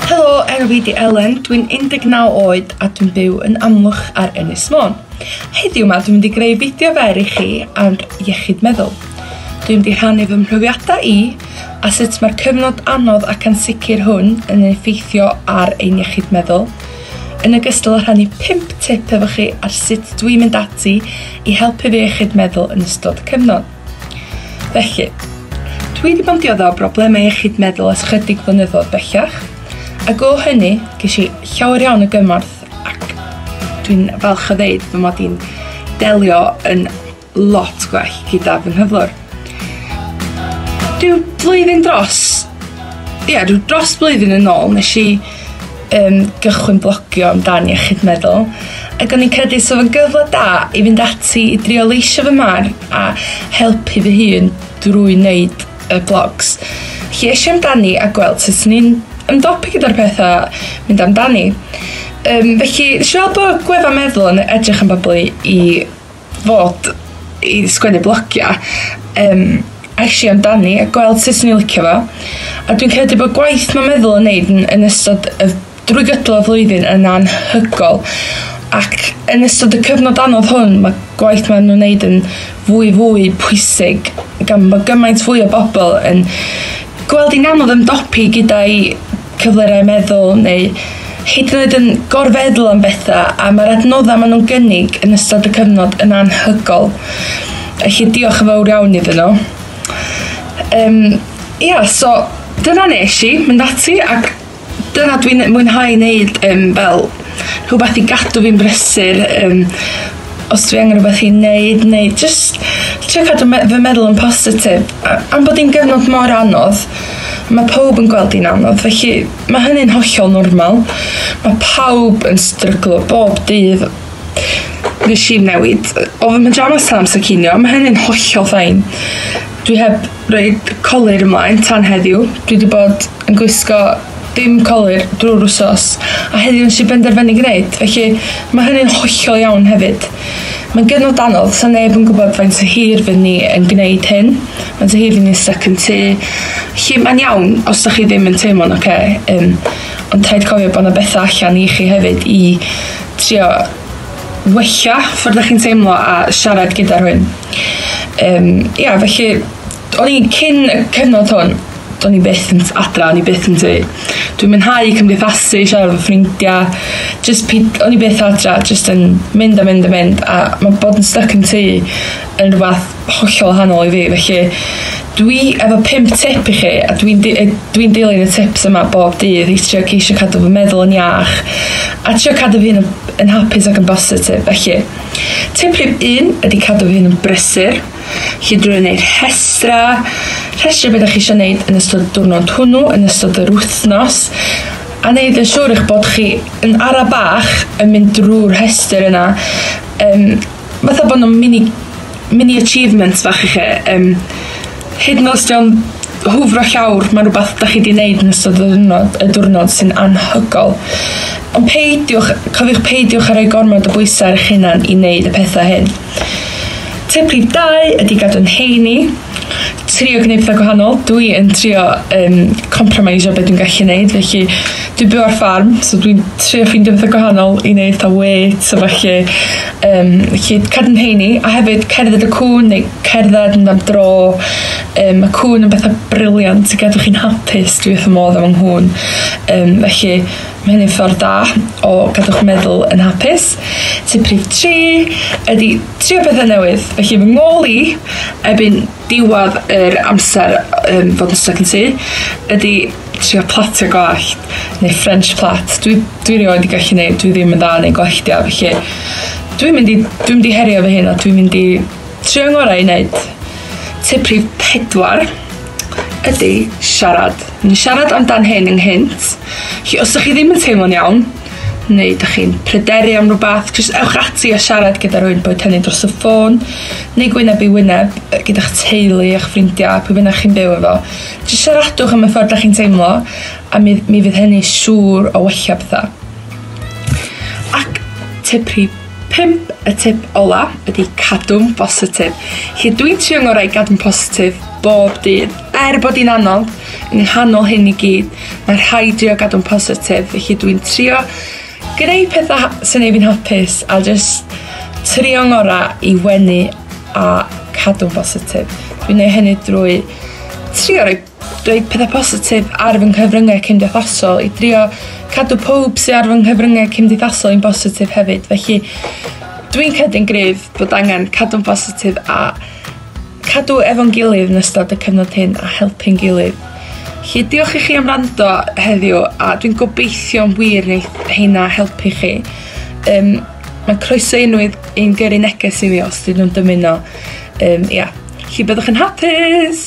Helo, enw fi di Elen, dwi'n 19 oed a dwi'n byw yn Amlwch ar Ynys Môn. Heddiw ma dwi'n mynd i greu fideo fer i chi ar iechyd meddwl. Dwi'n mynd i rhannu fy mhrofiadau i a sut mae'r cyfnod anodd ac ansicr hwn yn ei effeithio ar ein iechyd meddwl, yn ogystal â rhannu 5 tip efo chi ar sut dwi'n mynd ati i helpu fy iechyd meddwl yn ystod y cyfnod. Felly, dwi wedi bod yn diodda' o broblemau iechyd meddwl ers chydig flynyddoedd bellach, ac o hynny ges i llawer iawn o gymorth ac dwi'n falch o ddeud fy mod i'n delio yn lot gwell gyda fy nghyflwr. Dyw blwyddyn dros... Ie, dros blwyddyn yn ôl nes i yym gychwyn blogio amdan iechyd meddwl ac o'n i'n credu sa fo'n gyfle da i fynd ati i drio leisio fy marn a helpu fy hun drwy wneud y blogs. Felly eisiau amdani a gweld sut swn i'n ymdopi gyda'r pethau mynd amdani. Yym felly nes i weld bod gwefan meddwl yn edrych am bobl i i fod i sgwennu blogia yym a es i amdani a gweld sut o'n i'n licio fo a dwi'n credu bod gwaith ma' meddwl yn neud yn yn ystod y drwy gydol y flwyddyn yn anhygol ac yn ystod y cyfnod anodd hwn ma' gwaith ma' nw'n neud yn fwy fwy pwysig gan bo' gymaint fwy o bobol yn gweld 'i'n anodd ymdopi gyda'i cyflyrau meddwl neu hyd yn oed yn gorfeddwl am bethau a mae'r adnoddau maen nhw'n gynnig yn ystod y cyfnod yn anhygol. Felly diolch yn fawr iawn iddyn nhw. Um, ia, yeah, so dyna nes i mynd ati ac dyna dwi'n mwynhau wneud um, fel rhywbeth i gadw fi'n brysur um, os dwi angen rhywbeth i neud neu jyst trio cadw me- fy meddwl yn positif a- am bod hi'n gyfnod mor anodd mae pawb yn gweld hi'n anodd felly mae hynny'n hollol normal mae pawb yn stryglo bob dydd nes i newid o fy mhjamas tan amser cinio ma' hynny'n hollol fine dwi heb roid colur ymlaen tan heddiw. Dwi wedi bod yn gwisgo dim colur drwy'r wsos a heddiw nes i benderfynu gwneud, felly mae hynny'n hollol iawn hefyd. Mae'n gyfnod anodd, so neb yn gwybod faint o hir fydd ni yn gwneud hyn, faint o hir fydd ni'n stuck yn tŷ. Felly mae'n iawn os da chi ddim yn teimlo'n oce, okay, um, ond rhaid cofio bod yna bethau allan i chi hefyd i trio wella ffordd da chi'n teimlo a siarad gyda rhywun. Yym ia felly o'n i'n cyn y cyfnod hwn do'n i byth yn adra o'n i byth yn tŷ. Dwi'n mwynhau cymdeithasu, siarad efo ffrindia jyst peid- o'n i byth adra jyst yn mynd a mynd a mynd a ma' bod yn styc yn tŷ yn rwbath hollol wahanol i fi felly dwi efo pum tip i chi a dwi'n d- yy dwi'n dilyn y tips yma bob dydd i trio ceisio cadw fy meddwl yn iach a trio cadw fy hun yn hapus ac yn bositif felly Tip rhif un ydy cadw fy hun yn brysur, chi drwy wneud rhestra, rhestru beth chi eisiau gwneud yn ystod y diwrnod hwnnw, yn ystod yr wythnos, a wneud yn siŵr eich bod chi yn ara bach yn mynd drwy'r rhestr yna. Um, fatha bod nhw'n mini, mini achievements fach i chi. Um, Hyd yn oes dio'n hwfro llawr, mae'n rhywbeth da chi di wneud yn ystod y ddiwrnod, y diwrnod sy'n anhygol. Ond peidiwch, cofiwch peidiwch ar ei gormod o bwysau ar eich hunan i wneud y pethau hyn. Tip rhif 2 ydy gadw'n heini, trio gwneud pethau gwahanol. Dwi yn trio um, compromisio beth dwi'n gallu wneud, felly dwi'n byw ar ffarm, so dwi'n trio ffeindio pethau gwahanol i wneud ta wê, so felly um, felly cerdd yn heini, a hefyd cerdded y cwn neu cerdded yn am dro. Um, mae cwn yn bethau briliant i gadw chi'n hapus, dwi wrth y modd am nghwn. Um, felly mae hynny'n ffordd da o gadw'ch meddwl yn hapus. Tip rhif 3 ydy trio pethau newydd. Felly fy ngol i, ebyn diwad yr amser um, fod yn stuck yn sy, ydy trio platio gwallt neu French plait dwi dwi rioed 'di gallu neud dwi ddim yn dda yn neud gwalltia felly dwi'n mynd i dwi'n mynd i herio fy hun a dwi'n mynd i trio ngora i neud. Tip rhif pedwar ydi siarad. O'n i'n siarad amdan hyn ynghynt felly os 'dych chi ddim yn teimlo'n iawn neu 'dych chi'n pryderu am rwbath jyst ewch ati a siarad gyda rywun boed hynny dros y ffôn neu gwyneb i wyneb yy gyda'ch teulu a'ch ffrindia pwy bynnag chi'n byw efo Jyst siaradwch am y ffordd da chi'n teimlo a mi, mi fydd hynny siŵr o wella pethau. Ac tip rhi 5, y tip ola, ydy cadw'n bositif. Lle dwi'n trio ngorau i gadw'n positif bob dydd. Er bod hi'n anodd, yn nghanol hyn i gyd, mae rhai drio gadw'n positif, felly dwi'n trio Gwneud pethau sy'n gwneud fi'n hapus a jyst trio'n ngorau i wenu a cadw'n bositif. Dwi'n gwneud hynny drwy trio rhoi, rhoi pethau positif ar fy nghyfryngau cymdeithasol i drio cadw pob sydd ar fy nghyfryngau cymdeithasol i'n bositif hefyd. Felly dwi'n credu'n gryf bod angen cadw'n bositif a Cadw efo'n gilydd yn ystod y cyfnod hyn a helpu'n gilydd. Lly diolch i chi am rando heddiw a dwi'n gobeithio yn wir wneud heina helpu chi. Um, mae'n croeso unrhyw un gyrru neges i fi os dyn nhw'n dymuno. Um, ia, lly byddwch yn hapus!